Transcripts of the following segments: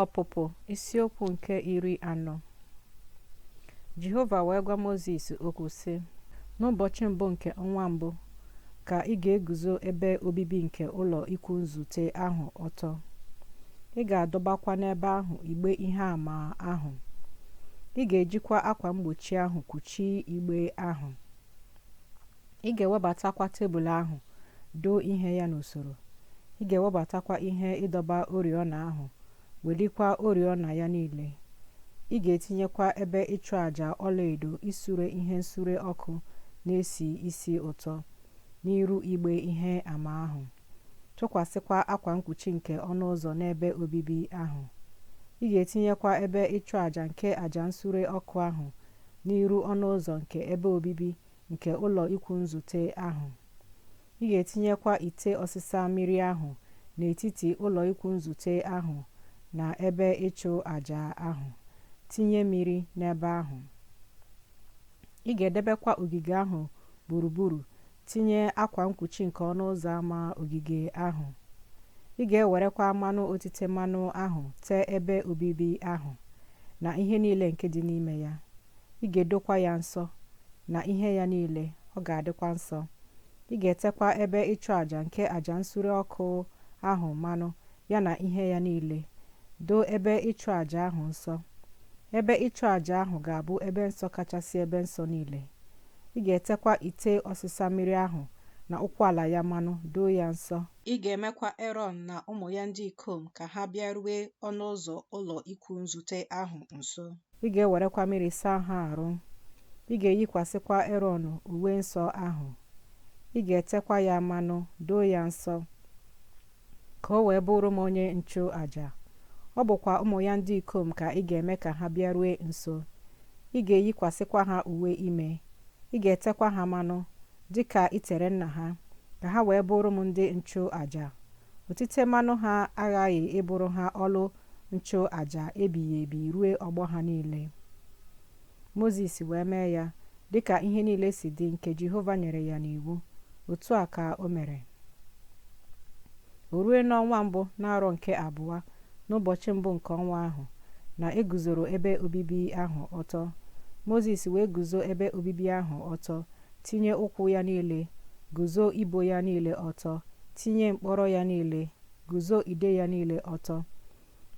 Ọpụpụ isiokwu nke iri anọ Jehova wee gwa Mozis okwu sị n'ụbọchị mbụ nke ọnwa mbụ ka ị ga-eguzo ebe obibi nke ụlọ ikwu nzute ahụ ọtọ ị ga-adọbakwa n'ebe ahụ igbe ihe ama ahụ ị ga-ejikwa akwa mgbochi ahụ kpuchie igbe ahụ Ị ga-ewebatakwa tebụl ahụ, doo ihe ya n'usoro. Ị ga-ewebatakwa ihe ịdọba oriọna ahụ, welikwa oriọna ya niile. Ị ga-etinyekwa ebe ịchụ aja ọlaedo isure ihe nsure ọkụ na-esi isi ụtọ n'iru igbe ihe ama ahụ. Tụkwasịkwa akwa mkpuchi nke ọnụ ụzọ n'ebe obibi ahụ. Ị ga-etinyekwa ebe ịchụ aja nke aja nsure ọkụ ahụ n'iru ọnụ ụzọ nke ebe obibi nke ụlọ ikwu nzute ahụ. Ị ga-etinyekwa ite ọsịsa mmiri ahụ n'etiti ụlọ ikwu nzute ahụ na ebe ịchụ aja ahụ, tinye mmiri n'ebe ahụ. Ị ga-edebekwa ogige ahụ gburugburu, tinye akwa mkpuchi nke ọnụ ụzọ ama ogige ahụ. Ị ga-ewerekwa mmanụ otite mmanụ ahụ tee ebe obibi ahụ na ihe niile nke dị n'ime ya. ị ga-edokwa ya nsọ na ihe ya niile ọ ga-adịkwa nsọ ị ga-etekwa ebe ịchụ àjà nke àjà nsure ọkụ ahụ mmanụ ya na ihe ya niile doo ebe ịchụ àjà ahụ nsọ ebe ịchụ àjà ahụ ga-abụ ebe nsọ kachasị ebe nsọ niile ị ga-etekwa ite ọsịsa mmiri ahụ na ụkwụ ala ya mmanụ doo ya nsọ ị ga-emekwa erọn na ụmụ ya ndị ikom ka ha bịarue ọnụ ụzọ ụlọ ikwu nzute ahụ nso ị ga-ewerekwa mmiri saa ha arụ ị ga-eyikwasịkwa erọn uwe nsọ ahụ ị ga-etekwa ya mmanụ doo ya nsọ ka o wee bụrụ m onye nchụ aja ọ bụkwa ụmụ ya ndị ikom ka ị ga-eme ka ha bịarue nso ị ga-eyikwasịkwa ha uwe ime ị ga-etekwa ha mmanụ dị ka i tere nna ha ka ha wee bụrụ m ndị nchụ aja otite mmanụ ha aghaghị ịbụrụ ha ọlụ nchụ aja ebighị ebi rue ọgbọ ha niile mozis wee mee ya dịka ihe niile si dị nke jehova nyere ya n'iwu otu a ka o mere o rue n'ọnwa mbụ n'arọ nke abụọ n'ụbọchị mbụ nke ọnwa ahụ na e guzoro ebe obibi ahụ ọtọ mozis wee guzo ebe obibi ahụ ọtọ tinye ụkwụ ya niile guzo ibo ya niile ọtọ tinye mkpọrọ ya niile guzo ide ya niile ọtọ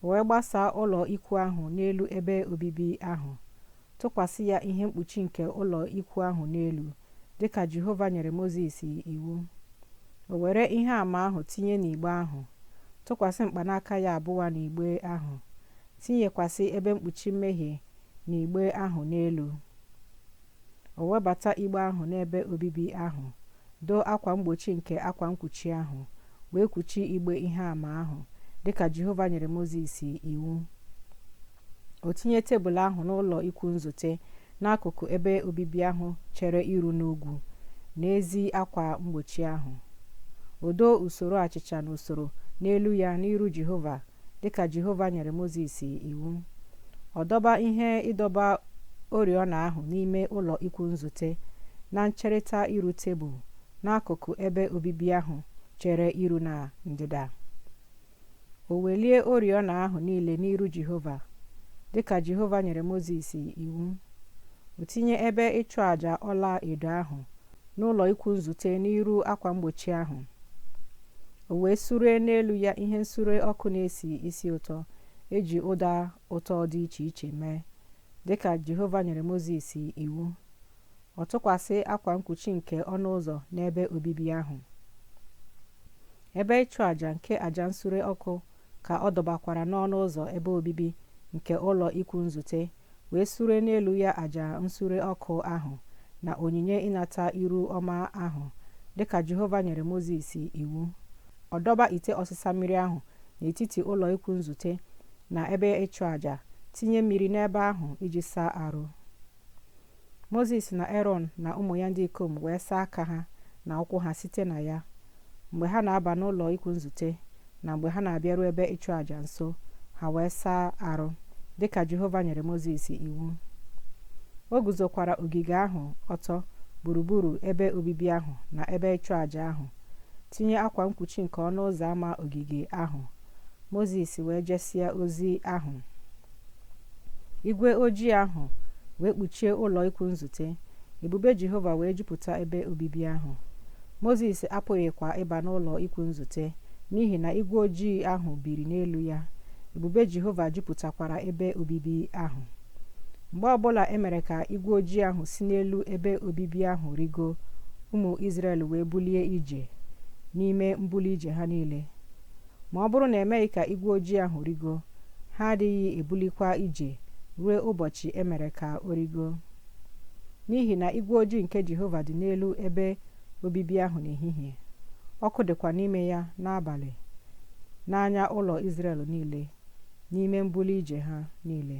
wee gbasaa ụlọ ikwu ahụ n'elu ebe obibi ahụ tụkwasị ya ihe mkpuchi nke ụlọ ikwu ahụ n'elu dịka Jehova nyere Mozis iwu o were ihe ama ahụ tinye n'igbe ahụ tụkwasị mkpanaka ya abụọ n'igbe ahụ tinyekwasị ebe mkpuchi mmehie n'igbe ahụ n'elu O webata igbe ahụ n'ebe obibi ahụ, doo akwa mgbochi nke akwa nkwuchi ahụ, wee kwuchi igbe ihe ama ahụ, dị ka Jehova nyere Mozis iwu. O tinye tebụl ahụ n'ụlọ ikwu nzute n'akụkụ ebe obibi ahụ chere iru n'ugwu, n'ezi akwa mgbochi ahụ. O doo usoro achịcha n'usoro n'elu ya n'iru Jehova dịka Jehova nyere Mozis iwu. Ọ dọba ihe ịdọba oriọna ahụ n'ime ụlọ ikwu nzute na ncherịta iru tebụl n'akụkụ ebe obibi ahụ chere iru na ndịda. O welie oriọna ahụ niile n'iru Jehova, dịka Jehova nyere Mozis iwu. O tinye ebe ịchụ aja ọla edo ahụ n'ụlọ ikwu nzute n'iru akwa mgbochi ahụ o wee sure n'elu ya ihe nsure ọkụ na-esi isi ụtọ eji ụda ụtọ dị iche iche mee dịka jehova nyere mozis iwu ọ tụkwasị akwa nkwuchi nke ọnụ ụzọ n'ebe obibi ahụ ebe ịchụ àjà nke àjà nsure ọkụ ka ọ dọbakwara n'ọnụ ụzọ ebe obibi nke ụlọ ikwu nzute wee sure n'elu ya aja nsure ọkụ ahụ na onyinye ịnata iru ọma ahụ dịka Jehova nyere Mozis iwu. Ọ dọba ite ọsịsa mmiri ahụ n'etiti ụlọ ikwu nzute na ebe ịchụ aja, tinye mmiri n'ebe ahụ iji saa arụ. mozis na erọn na ụmụ ya ndị ikom wee saa aka ha na ụkwụ ha site na ya mgbe ha na-aba n'ụlọ ikwu nzute na mgbe ha na-abịaru ebe ịchụ àjà nso ha wee saa arụ dịka jehova nyere mozis iwu o guzokwara ogige ahụ ọtọ gburugburu ebe obibi ahụ na ebe ịchụ àjà ahụ tinye akwa nkwuchi nke ọnụ ụzọ ámá ogige ahụ mozis wee jesịa ozi ahụ igwe ojii ahụ wee kpuchie ụlọ ikwu nzute ebube jehova wee jupụta ebe obibi ahụ mozis apụghịkwa ịba n'ụlọ ikwu nzute n'ihi na igwe ojii ahụ biri n'elu ya ebube jehova jupụtakwara ebe obibi ahụ mgbe ọbụla e mere ka igwe ojii ahụ si n'elu ebe obibi ahụ rigo ụmụ izrel wee bulie ije n'ime mbuli ije ha niile ma ọ bụrụ na emeghị ka igwe ojii ahụ rigo ha adịghị ebulikwa ije ruo ụbọchị e mere ka o rigo n'ihi na igwe ojii nke jehova dị n'elu ebe obibi ahụ n'ehihie ọkụ dịkwa n'ime ya n'abalị n'anya ụlọ Izrel niile n'ime mbuli ije ha niile